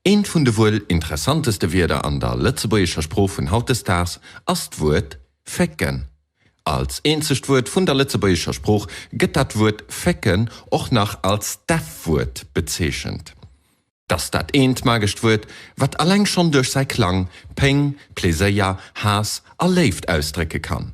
Eent vun de wuel interessanteste Wierder an der lëtzebuergescher Sprooch vun hautdesdaags ass d'Wuert fécken. Als eenzegt Wuert vun der lëtzebuergescher Sprooch gëtt dat Wuert fécken och nach als Deffwuert bezeechent. Dass dat eent magescht Wuert, wat alleng schonn duerch säi Klang Péng, Pleséier, Haass a Léift ausdrécke kann,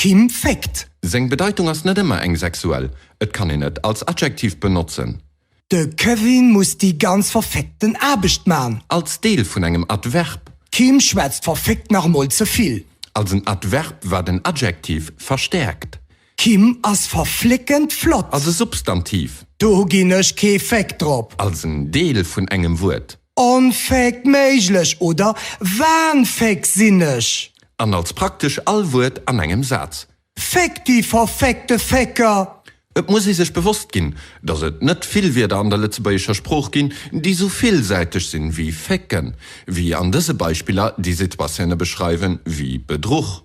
Kim féckt. Seng Bedeitung ass net ëmmer eng sexuell, et kann een et als Adjektiv benotzen. De Kevin muss déi ganz verféckten Aarbecht man. Als Deel vun engem Adverb. D'Kim schwätzt verféckt nach emol ze vill. Als en Adverb, wat en Adjektiv verstäerkt. D'Kim ass verflickend flott. Als e Substantiv. Do ginn ech kee Féck drop. Als en Deel vun engem Wuert. Onfäg, méiglech oder wahnfäg sinn ech. An als praktesch all Wuert an engem Saz. Féck déi verféckte Fécker! Et muss ee sech bewosst ginn, datt et net vill Wierder an der lëtzebuergescher Sprooch ginn, déi esou villsäiteg sinn ewéi fécken, wéi an dëse Beispiller déi Situatioune beschreiwen ewéi Bedruch.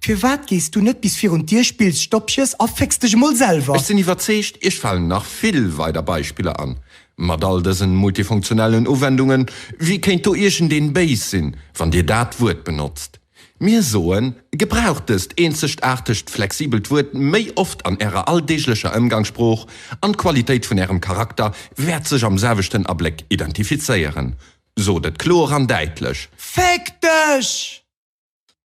Firwat gees du net bis virun d'Dier, spills Stoppjes a fécks dech emol selwer? Ech sinn iwwerzeegt, Iech falen nach vill weider Beispiller an. Mat all dësen multifunktionellen Uwendungen, wie kéint do iergendeen béis sinn, wann Dir dat Wuert benotzt? Mir soen, gebraucht dëst eenzegaartegt, flexibelt Wuert méi oft an Ärer alldeeglecher Ëmgangssprooch an d'Qualitéit vun Ärem Charakter wäert sech am selwechten Abléck identifizéieren. Sot et kloer an däitlech! Féck dech!